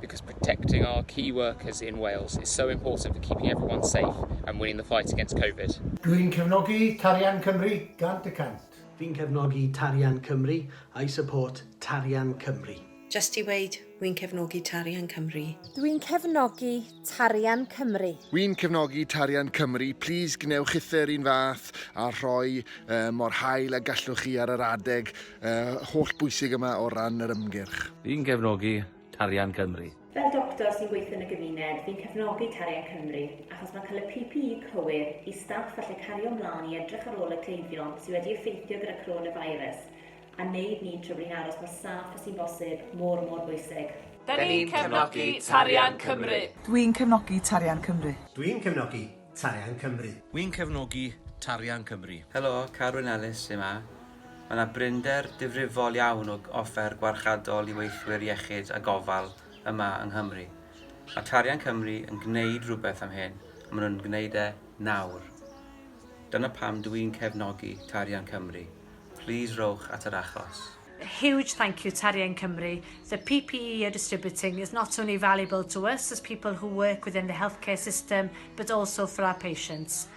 because protecting our key workers in Wales is so important for keeping everyone safe and winning the fight against Covid. Dwi'n cefnogi Tarian Cymru gant y cant. Fi'n cefnogi Tarian Cymru, I support Tarian Cymru. Jyst i weud, wy'n cefnogi Tarian Cymru. Dwi'n cefnogi Tarian Cymru. Wy'n cefnogi Tarian Cymru, plis gwnewch uthr un fath a rhoi uh, mor hael a gallwch chi ar yr adeg uh, holl bwysig yma o ran yr ymgyrch. Fi'n cefnogi Tarian Cymru. Fel doctor sy'n gweithio yn y gymuned, fi'n cefnogi Tarian Cymru, achos mae'n cael y PPE cywir i staff allu cario mlaen i edrych ar ôl y cleifion sydd wedi effeithio gyda coronavirus a wneud ni'n trybling aros mor saff a sy'n bosib, mor mor bwysig. Da ni'n cefnogi Tarian Cymru. Dwi'n cefnogi Tarian Cymru. Dwi'n cefnogi Tarian Cymru. Wi'n cefnogi Tarian Cymru. Helo, Carwyn Ellis sy 'ma. Mae yna brinder difrifol iawn o offer gwarchadol i weithwyr iechyd a gofal yma yng Nghymru. Mae Tarian Cymru yn gwneud rhywbeth am hyn, a maen nhw'n gwneud e nawr. Dyna pam dw i'n cefnogi Tarian Cymru. Plîs rowch at yr achos. A huge thank you Tarian Cymru, the PPE you're distributing is not only valuable to us as people who work within the healthcare system but also for our patients.